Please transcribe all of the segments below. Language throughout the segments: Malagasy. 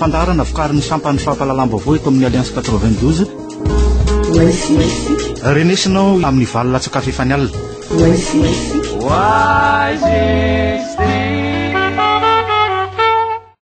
Fandaharana vokarin'ny sampan'ny fampahalalam-baovao eto amin'ny Alliance 92. Renesinao amin'ny valo latsaka fefany alina. Oasis.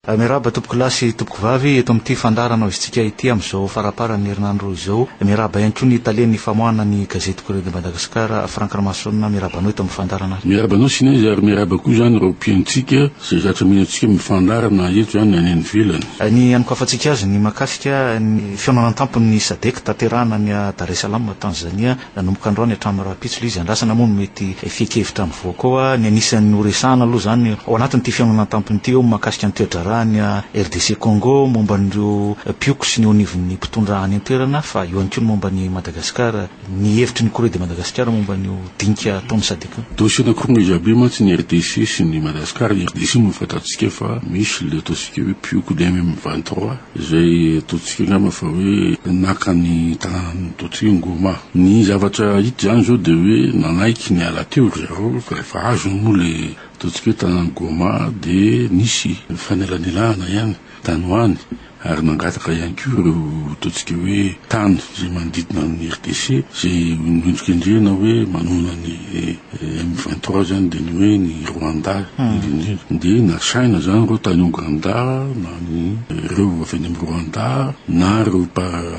Miarahaba tompoko lahy sy tompoko vavy eto amin'ity fandaharana hoizintsika ity amin'izao faramparan'ny herinandro izao. Miarahaba ihany koa ny talen'ny famoahana ny gazety Courrier de Madagascar, Franck Ramason, miarahaba anao eto amin'ny fandaharana. Miarahaba anao Sinez ary miarahaba koa izany ireo mpihainontsika izay zatra mino antsika amin'ny fandaharana na eto na any ivelany. Ny hanokafantsika azy ny mahakasika ny fihaonana an-tampony ny Sadec tanterahana any Dar es Salaam, Tanzania, Nanomboka androany hatramin'ny rahampitso ilay izy andrasana moa no mety fehin-kevitra mivoaka ao. Ny anisan'ny horesahana aloha izany ao anatin'ity fihaonana an-tampony ity eo ny mahakasika ny toedraharahan'i RDC Congo, momba an'ireo mpihoko sy ny eo anivon'ny mpitondra any an-toerana fa eo ihany koa ny momba an'i Madagasikara, ny hevitry ny Corée de Madagascar momba an'io dinika ataon'ny Sadc io. Dossier nakorina jiaby io mantsy ny RDC sy ny Madagascar. Ny RDC moa efa fantantsika fa misy ilay ataontsika hoe mpihoko DMM vingt trois. izay ataontsika angamba fa hoe naka ny tanànan'ny Hototry ny Goma. Ny zavatra hita izany izao dia hoe nanaiky ny hiala teo ry zareo fa rehefa azony moa ilay ataontsika hoe tanànan'i Goma dia nisy fanelanelana ihany tany ho any ary nangataka ihany koa ireo ataontsika hoe tany izay manodidina an'i RDC izay nendrikendrehina hoe manohana ny M23 zany dia ny hoe ny Rwanda indrindra dia nasaina zany ireo tany Ouganda na ny ireo avy any amin'ny Rwanda na ireo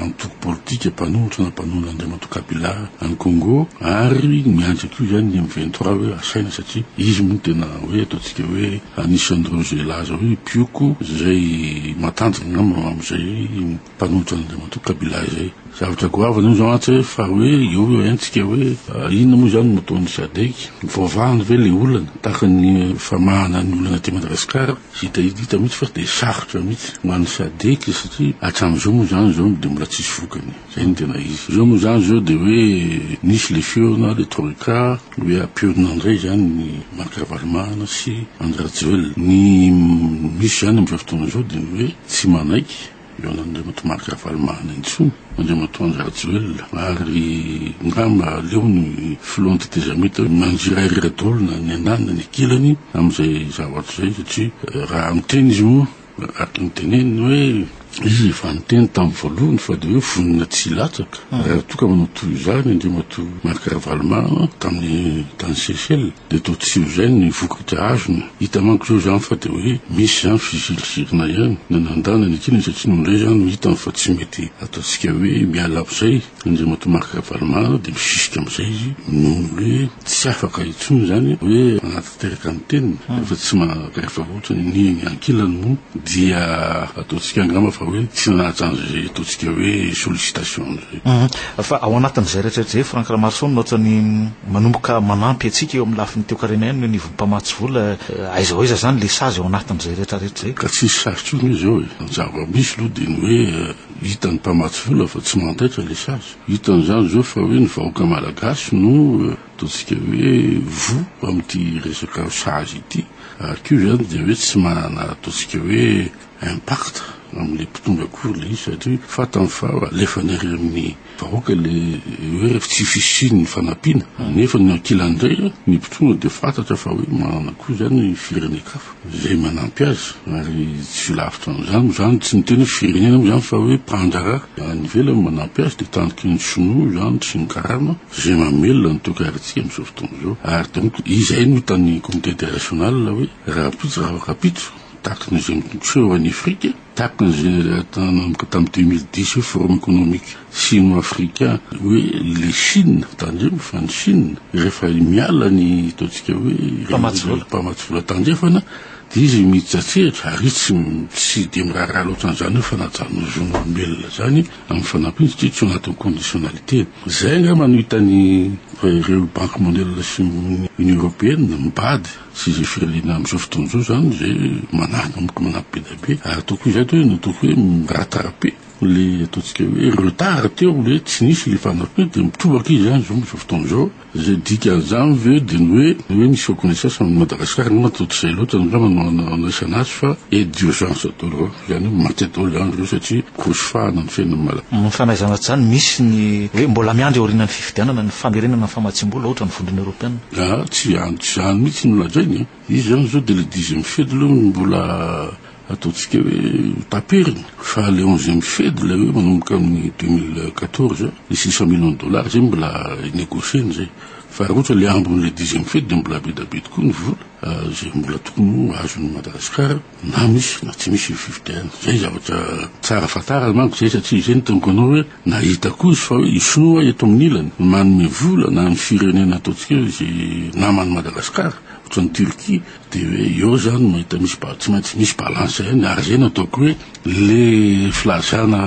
antoko politika mpanolotra na mpanolo Andriamatoa Kabila any Congo ary miandry koa izany ny M23 hoe asaina satria izy moa tena hoe ataontsika hoe anisan'ireo izay laza hoe mpioko izay matanjaka angamba amin'izay mpanohitra an'Andriamatoa Kabila izay. Zavatra goavana io izao antsy hoe fa hoe eo eo haintsika hoe inona moa izany no ataon'ny Sadec? Voavahany ve ilay olana tahaka ny famahana ny olana aty Madagasikara? Hita hita mihitsy fa dia sarotra mihitsy ho an'ny Sadec satria hatramin'izao moa izany izao dia mbola tsisy vokany. Izay no tena izy. Izao moa izany izao dia hoe nisy ilay feona ilay troika hoe ampionona indray izany ny Marc Ravalomanana sy Andry Rajoelina. Ny misy izany amin'izao fotoana izao dia ny hoe tsy manaiky. Eo ananan'Andriamatoa Marc Ravalomanana intsony, Andriamatoa Andry Rajoelina ary angamba aleo ny Filohan'ny tetezamita manjirahirira daholo na ny andaniny na ny ankilany amin'izay zavatra izay satria raha miteny izy moa araka ny teneniny hoe izy efa niteny tamin'ny voalohany fa dia hoe vonona tsy hilatsaka raha toa ka manao toy izany Andriamatoa Marc Ravalomanana tamin'ny tany Seychelles. Dia toa tsy eo izay ny vokatra azony. Hita manko izao izany fa dia hoe misy izany fizirizirina ihany. Na nandana ny kiana satria noho indray izany no hitany fa tsy mety ataontsika hoe miala amin'izay. Andriamatoa Marc Ravalomanana dia misisika amin'izay izy noho ny hoe tsy afaka intsony izany hoe hanatanteraka ny teniny rehefa tsy maka efa ohatra ny ny ankilany moa dia ataontsika angamba fa hoe tsy nanaja an'izay ataontsika hoe sollicitation an'izay. Mhm. Fa ao anatin'izay rehetrarehetra izay Franck Ramaroson ohatrany manomboka manampy antsika eo amin'ny lafiny toekarena ihany ny anivon'ny mpamatsy vola eh, aiza ho aiza izany le sazy ao anatin'izay rehetrarehetra izay. Ka tsisy sazy tsony izy eo e. Ny zava-misy aloha dia ny hoe eh, hitan'ny mpamatsy vola fa tsy mandaitra le sazy. Hitany izany izao fa hoe ny vahoaka malagasy no eh, ataontsika hoe voa amin'ity resaka sazy ity. Ary koa izany dia hoe tsy manana ataontsika hoe impact amin'ilay mpitondra akory ilay izy satria fantany fa alefany ery amin'ny vahoaka ilay hoe tsy fisian'ny fanampiana nefa ny ankilany indray ny mpitondra dia fantatra fa hoe manana koa izany ny firenen-kafa izay manampy azy ary tsy lavitra an'izany moa izany tsy niteny hoe firenena moa izany fa hoe mpandraharaha any ivelany manampy azy dia taniky ny sinoa izany sy ny karana izay mamelona ny toekaritsika amin'izao fotoana izao ary donc izay no hitan'ny comité international hoe rahampitso raha kapitso Takin'izay miseho any Afrika, takin'izay nanomboka tamin'ny deux mille dix hoe forum économique sino-africain hoe le Chine, tandremo fa ny Chine rehefa miala ny ataontsika hoe mpamatsy vola, mpamatsy vola tandrefana dia izy miditra an-tsehatra ary izy tsy tsy dia miraharaha loatra an'izany hoe fanajan'ny zon'olombelona izany amin'ny fanampiana satria tsy ao anatin'ny conditionnalité-ny. Izay angamba no hitan'ny ireo banky mondiale sy ny Union européenne mibady. Tsy izay firenena amin'izao fotoana izao izany izay mananomboka manampy be dia be ary tokony izay atao hoe na tokony hoe miratara be le ataontsika hoe retard teo le tsy nisy le fanampiana dia mitobaka izy izany izao amin'izao fotoana izao. Izay dikan'izany ve dia ny hoe ny hoe misy reconnaissance amin'i Madagasikara angamba toa tsy izay loatra angamba no andraisana azy fa aide d'urgence daholo izany hoe mankaty daholo izany ireo satria grosy fahana ny fiainan'ny Malagasy. Amin'ny fanaizana azy izany misy ny hoe mbola miandry aorianan'ny fifidianana ny famerenana ny famatsiam-bola ohatra ny Vondrona Eoropeana. Aa tsy izany tsy izany mihitsy no lazainy a! Izy izany izao dia ilay dixième fed aloha no mbola ataontsika hoe ho taperiny fa ilay onzième fed ilay hoe manomboka amin'ny deux mille quatorze ilay six cent millions de dollars izay mbola hi-negocier-ny izay fa raha ohatra ilay ambin'ilay dixième fed dia mbola be dia be tokoa ny vola izay mbola tokony ho azon'i Madagasikara. na misy na tsy misy io fifidianana. Zay zavatra tsara fantarina manko zay satria zay no teniko anao hoe nahita koa izy fa hoe i sinoa eto amin'ny ilany manome vola na ny firenena ataontsika hoe ze naman'i Madagascar ohatran'ny Turquie de hoe eo zany mahita misy ba- tsy maintsy misy balance ihany ary zay no ataoko hoe le filazana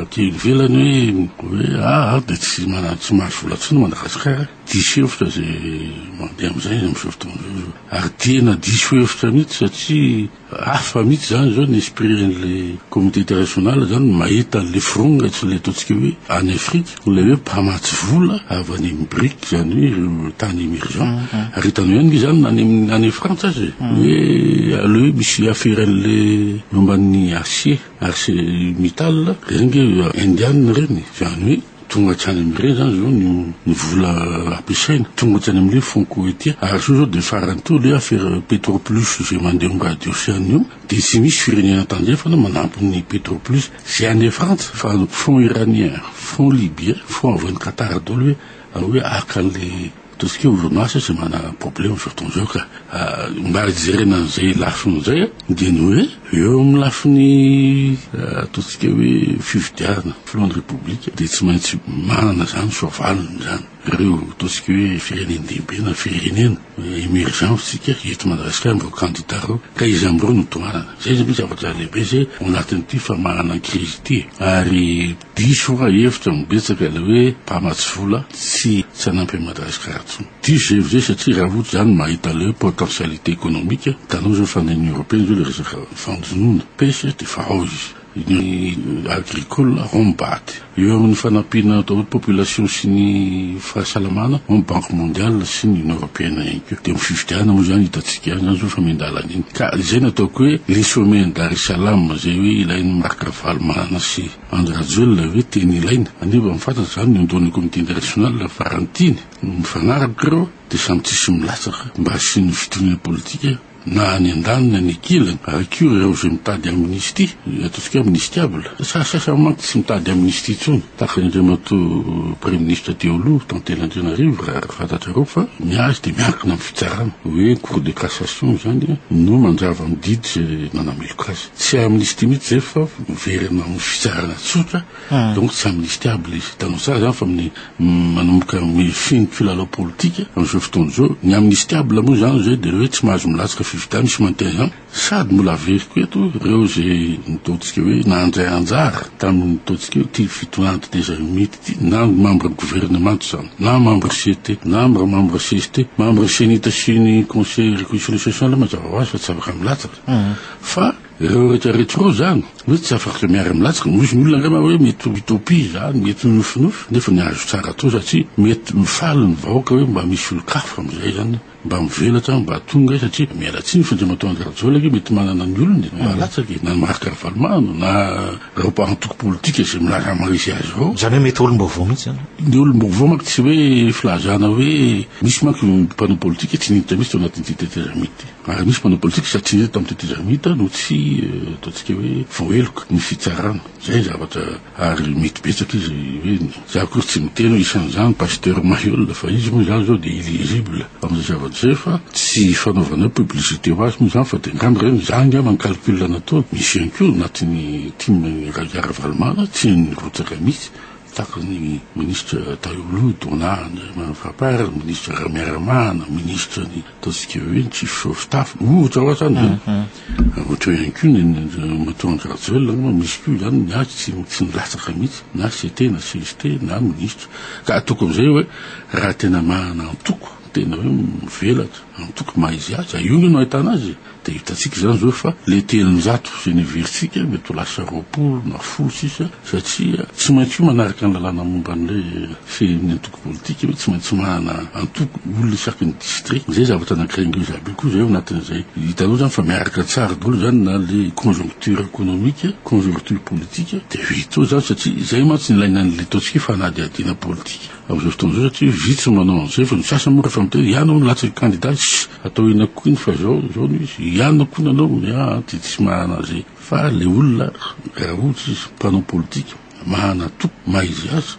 aty ivelany hoe hoe ah ah de tsy mana- tsy mahazo vola tsony Madagascar Diso hevitra izay mandeha amin'izay amin'izao fotoana izao zao. Ary tena diso hevitra mihitsy satria hafa mihitsy izany izao ny esprit an'ilay communauté internationale izany mahita an'ilay fironga sy ilay ataontsika hoe any Afrika, ilay hoe mpamatsy vola avy any amin'ny Bric izany hoe ireo tany emergent. Ary hitanao ihany ve izany na any amin'ny any Frantsa aza e. Hoe aleo hoe misy afera an'ilay momba ny acier, arsenic metal, ireny ange Indiana ireny. Izany hoe. Tonga hatrany amin'ny iray izany izao ny ny vola ampiasaina, tonga hatrany amin'ilay fonds Kowetia, ary sao izao dia farany teo ilay afera Petro Plus izay mandeha eo amin'ny radio sy anona eo, dia tsy misy firenena tandrefana manampy ny Petro Plus, izay any Frantsa, fa fonds Iranien, fonds Libyen, fonds avy any Qatar daholo hoe hoe haka an'ilay. Tout ce qui est orinasa tsy manana problème zao fotoana zao ka. Mba jerena an'izay lafiny izay dia ny hoe eo amin'ny lafiny ataontsika hoe fifidianana filoha ny repoblika dia tsy maintsy manana izany soavaliny izany ireo ataontsika hoe firenendehibe na firenena emergence tsika eto Madagasikara amin'ireo kandida ireo ka izy amin'ireo no tohanana. Izay zany no zavatra lehibe izay ao anatin'ity famahanana ny krizy ity e. Ary. Diso hoa hevitra no betsaka ilay hoe mpamatsy vola tsy tsy hanampy an'i Madagascar intsony. Diso izay hevitra izay satria raha ohatra izany mahita ilay hoe potentialité économique, hitanao izao fa any Union Européenne izao ilay resaka fanjonoana, pêche, dia efa ao izy. Union Agricole ao ny bat. Eo amin'ny fanampiana atao hoe population sy ny fahasalamana ao ny Banque Mondiale sy ny Union Européenne ihany koa. Dia eo amin'ny fifidianana moa izany hitantsika ihany izany izao fa miandalana iny. Ka izay no ataoko hoe le sommet an'i Dar es Salam izay hoe ilain'i Marc Ravalomanana sy Andry Rajoelina ve tena ilaina? Anefa efa fantatra izany ny ondoan'ny comité international fa raha ny tiany no mifanaraka ireo dia samy tsisy milatsaka mba hasian'ny fitoniana politika na any andaniny any ankilany ary koa ireo izay mitady amnistie dia ataontsika hoe amnistiable fa sahy sasany manko tsy mitady amnistie intsony tahaka ny andriamatoa praiminisitra teo aloha Tantely Andrianarivo raha fantatrareo fa ny azy dia miankina amin'ny fitsarana hoe cour de cassation izany no mandrava ny didy izay nanameloka azy Tsy amnistie mihitsy zay fa miverina amin'ny fitsarana tsotra donc tsy amnistiable izy. Hitanao tsara zany fa amin'ny manomboka mifehy ny mpilalao politika amin'izao fotoana izao. Ny amnistiable moa zany zay dia hoe tsy mahazo milatsaka fifidianana, misy mantin an. Sady mbola averiko eto ireo izay nataontsika hoe nandray anjara tamin'ny ataontsika hoe ity fitonandy des alumites ity na ny membre gouvernement izany na membre CT na membre CST, membre CENI-T sy ny conseil reconciliation social mazava ho azy fa tsy afaka milatsaka. fa ireo rehetra rehetra ireo zany hoe tsy afaka miara milatsaka misy ny olona angamba hoe mety mitopia izany mety minofinofy nefa ny azo tsara atao satria mety mifaly ny vahoaka hoe mba misy olon-kafa amin'izay zany mba mivelatra mba tonga e, satria miala tsiny fa dia matoa andrajola ke mety manana ny olony e, mahalatsaky e. na Marc Ravalomanana na ireo antoko politika izay milaza maharesy azy ireo izany hoe mety olom-baovao mihitsy zany ny olom-baovao manko tsy hoe filazana hoe misy manko mpanao politika tsy niditra mihitsy tao anatin'ity tetezamita ity Ary nisy mpanao politika satria tamin'ny tetiza Ramita no tsy ataontsika hoe vao heloka ny fitsarana. Izay ny zavatra ary mety betsaka izy hoe za akory tsy miteny hoe isan'izany Pasteur Maheul fa izy moa izany izao dia illisible amin'izay zavatra izay fa tsy fanaovana hoe publicité ho azy moa izany fa dia angamba ireny za angamba ny calcul nataony misy ihany koa anatin'ny tim Raja Ravalomanana tsy hainy mirotsaka mihitsy tahaka ny ministra Tahio Loha, Donat, Andriamani Fapar, ministra Ramiaramahana, ministra ny Ataontsika hoe ny chief Sovitafy, ohatra ohatra zany e. Ohatra hoe ihany koa ny matoa Andry Rajoelina angamba misy koa izany ny azy tsy tsy milatsaka mihitsy na CT na CST na minisitra. Ka ataoko amin'izay hoe raha tena manana antoko tena hoe mivelatra, antoko maha izy azy, io angamba no ahitana azy e. Dia hitantsika izany izao fa ilay telonjato izay neverintsika mety ho lasa roapolo na folo sisa satria tsy maintsy manaraka ny lalàna momba an'ilay fehin'ny antoko politika hoe tsy maintsy manana antoko olona isaky ny distrika. Izay zavatra anankiray indreo jiaby io koa izay ao anatin'izay. Hitanao izany fa miaraka tsara daholo izany na ilay conjoncture economique, conjoncture politique dia vita eo izany satria izay mantsy no ilaina an'ilay ataontsika hoe fanadihadiana politika amin'izao fotoana izao satria vitsy ny manao an'izay fa ny sasany moa rehefa miteny ianao no latsaky kandida, Atao eny akoiny fa zao zao no izy iany no akoiny anao ny ahy dia tsy mahana an'izay fa le olona raha ohatra izy mpanao politika mahana toky maha izy azy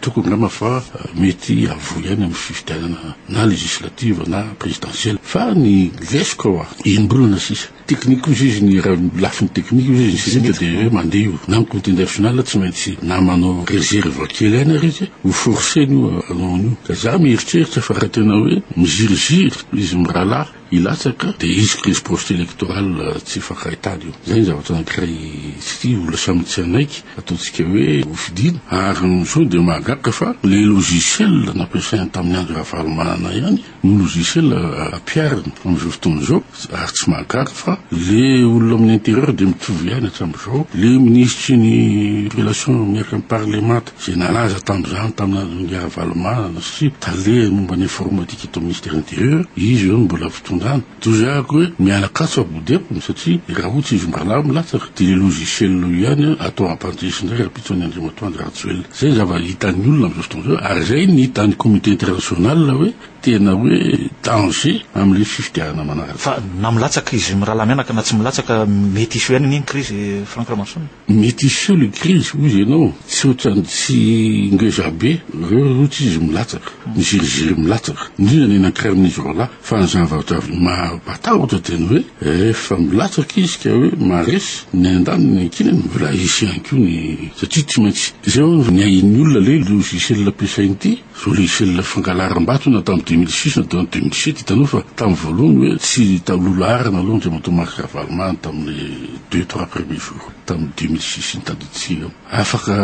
tokony angamba fa mety havoa ihany amin'ny fifidianana na législative na présidentielle fa ny lesy ko indro olona sisa Teknika hoy izy, izy ny raha ny lafiny teknika hoy izy ny sismika dia hoe mandeha io na ny comité national tsy maintsy na manao reserve kely aina ary izy ho forcer-ny io hanao an'io ka za mieritreritra fa raha tena hoe miziriziry izy mirahalahy hilatsaka dia hisy crise post electoral tsy hifankahitana io zay ny zavatra anankiray tsy tia olona samy tsy hanaiky ataontsika hoe ho fidiana ary ny sao dia mahagaga fa le logiciel nampiasainy tamin'ny andro ravalomanana ihany ny logiciel ampihariny amin'izao fotoana izao ary tsy mahagaga fa le olona amin'ny intérieur dia mitovy ihany hatramin'izao le minisitry ny relation miaraka amin'ny parlemanta izay nalaza tamin'izany tamina Ngy Ravalomanana sy tale momba ny informatique eto amin'ny ministère intérieur izy eo no mbola fitondrana Dozehako hoe miala katsy ao Bodepony satria i Raho tsy izom-balahy milatsaka dia i logiciel io ihany atao ampandresy indray rahampitso an'i Andriamatoa Andry Rajoelina. Izay ny zava-hitan'ny olona amin'izao fotoana izao ary izay ny hitan'ny communauté internationale hoe tena hoe danger amin'ilay fifidianana manaraka. Fa na milatsaka izy mirahalahy mianaka na tsy milatsaka mety hisy ihany anie ny crise Franck Ramason. Mety hiseho le krizy hoy ianao, tsy ohatran'ny tsy ngeza be, reo roa tsy izy milatsaka, miziriziry milatsaka, indrindra ny eny an-kiramin'izy roalahy, fa ny zavatra mampatahotra dia ny hoe rehefa milatsaka izy ka hoe maharesy, ny andaniny ny ankinany mbola hisy ihany koa ny, satria tsy maintsy, zay hono ny ahian'ny olona le logiciel ampiasainy ity, Logiciel fangalaram-bato na tamin'ny deux mille six na deux mille sept hitanao fa tamin'ny voalohany hoe tsy taloha laharana aloha Andriamatoa Marc Ravalomanana tamin'ny deux trois premier jour tamin'ny deux mille six iny tadiditsiana afaka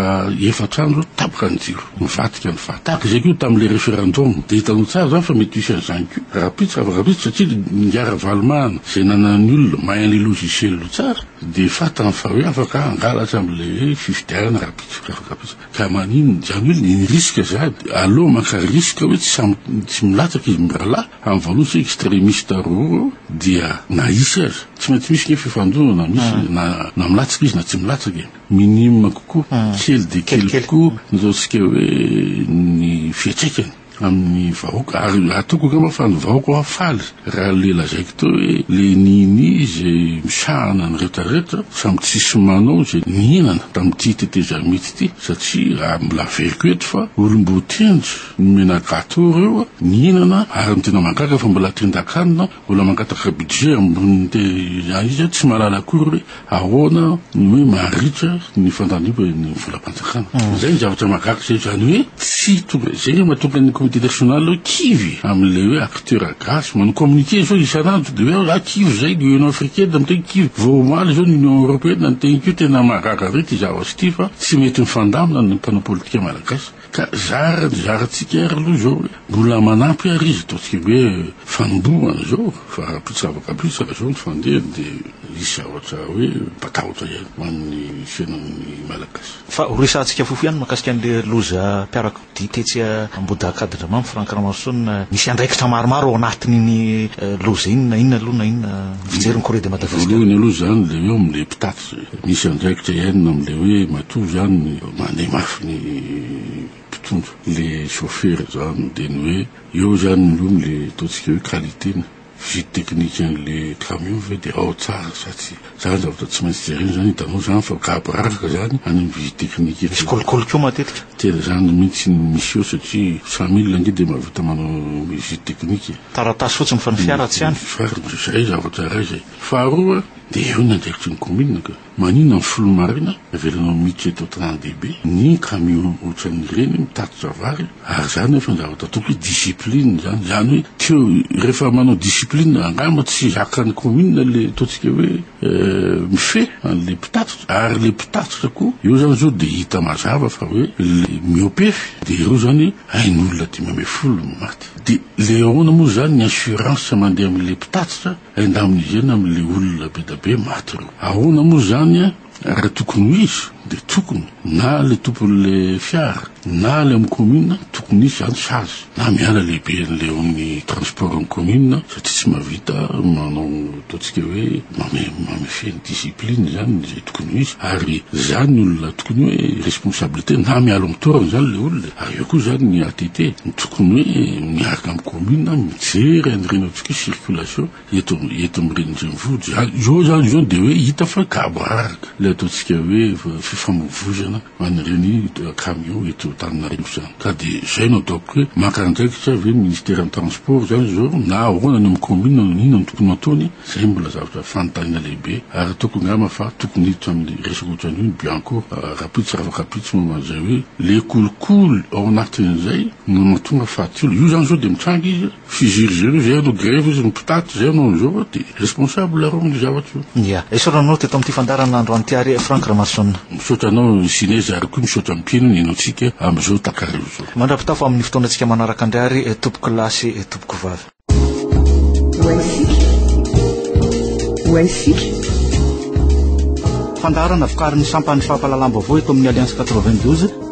efatra andro tapaka ny jiro mivadika ny fat tahaka izay koa tamin'ilay referendum dia hitanao tsara izany fa mety hisy an'izany koa rahampitso ravakapitso satria ninga Ravalomanana izay nanan'ny olona mahay an'ilay logiciel tsara dia fat amin'ny faharoa afaka hangalatra amin'ilay fifidianana rahampitso ravakapitso Ka maninona izany hoe ny risque sady aleo maka risque hoe tsy samy tsy milatsaka izy mirahalahy amin'ny valos extremiste roro dia na hisy aza tsy maintsy misy ny fifandonana misy hmm. na na milatsaka izy na tsy milatsaka e minime kokoa hmm. kely dia kely kokoa ny ataontsika hoe ny fiatraikany amin'ny vahoaka ary atoko angamba fa ny vahoaka hoa faly raha le lazaiko teo hoe le nini izay misahana ny rehetrarehetra samy tsisy manao izay nihinana tamin'ity tetezamita ity satria raha milaveriko eto fa olom-boatendry nomena gato ireo nihinana ary ny tena mahagaga fa mbola tendan-kanina Mbola mangataka budget ambony de aiza tsy mahalala akory hoe ahoana ny hoe maharitra ny fandaniba ny volam-panjakana. Izay ny zavatra mahagaga izay izany hoe tsy tonga izay ny mahatonga ny comité national hoe kivy amin'ilay hoe acteur gasy manao communiqué zao isan'andro de hoe ah kivy izay ny union africaine miteny kivy vao omaly izao ny union européenne niteny kivy tena mahagaga ve ity zavatra ity fa tsy mety mifandamina ny mpanao politika malagasy Ka zara ny zarantsika ary aloha izao hoe mbola manampy ary izy, ataontsika hoe fanombohana izao, fa raha mpitsabaka be tsara izao ny fandehany dia hisy zavatra hoe mpatahotra ihany ho an'ny fiainan'ny Malagasy. Fa ho resahantsika fohy ihany mahakasika an'ilay loza mpiarakodia tetsy Ambohidakadindramamy, Franck Ramaroson, misy andraikitra maromaro ao anatin'iny loza iny na inona aloha na inona ny fijery ny Corée de Madagascar. Voalohany aloha izany dia eo amin'ilay mpitaty. Tsy misy andraikitra iainana amin'ilay hoe matoa izany ny mandeha mafy ny mpitondra, ilay chauffeur izany dia ny hoe eo izany ny loha amin'ilay ataontsika hoe qualité-ny, visite technique an'ilay camion ve dia ao tsara sa tsia. Izany zavatra tsy maintsy jerena izany, hitanao izany fa gaboraraka izany any amin'ny visite technique any. Misy kolikoly koa matetika. Tena izany mihitsy no misy eo satria samy olona ange dia mahavita manao visite technique e. Taratasy fotsiny fa ny fiara tsy any. Farany izay zavatra iray izay. Faharoa dia eo ny andraikitry ny kaominina ka maninona ny filoha marina avelanao miditra eto tranon dehibe ny camion otran ireny mitatitra vary ary izany efa andrava tatoky hoe discipline izany izany hoe teo rehefa manao discipline angamba tsy zakany kaominina le ataontsika hoe mifehy anle mpitatitra ary le mpitatitra koa eo izany zao dia hita mazava fa hoe le miopefy dia ireo izany hain'olona dimy ambin'ny folo no maty dia le ahoana moa izany ny assurance mandeha amin'le mpitatitra Indemniser-na amin'ilay olona be dia be maty ireo. Ahoana moa izany an? Raha tokony ho izy dia tokony na ilay tompon'ilay fiara na ilay amin'ny commune tokony hisy izany sazy na miala lehiben'ilay eo amin'ny transport amin'ny commune satria tsy mahavita manao ataontsika hoe mame- mamefehy ny discipline izany izay tokony ho izy ary izany ny olona tokony hoe responsabilité na miala amin'ny toerana izany ilay olona e. Ary eo koa izany ny ATT ny tokony hoe miaraka amin'ny commune mijery an'ireny circulation eto eto amin'ny renivohitra zany izao zany izao dia hoe hita fa gaboraraka ilay ataontsika hoe fifamoivoizana an'ireny camion eto Antananarivo izany ka dia izay no ataoko hoe maka andraikitra ve ny ministère ny transport izany izao na ahoana any amin'ny commune no inona no tokony ataony izay mbola zavatra fanontaniana lehibe ary ataoko angamba fa tokony hiditra amin'ny resaka ohatran'io ny bianco rahampitso ravankapitso momba an'izay hoe le kolikoly ao anatin'izay no mahatonga fahatsorana io izany izao dia mitranga izy Fizily zay no zay no grevy izy ny mpitaty zay no an'izao fa dia responsable areo amin'ny zavatra io. Ia. Esorina anao teto amin'ity fandaharana Andro an'ity ary Franck Ramason. Misaotra anao ny Cinez ary koa misaotra ny mpino nino antsika amin'izao takariva izao. Mandra-pitafa amin'ny fotoanantsika manaraka indray ary tompoko lahy sy tompoko vavy. Ho haisika. Fandaharana vokarin'ny sampan'ny fampahalalam-baovao eto amin'ny Alliance 92.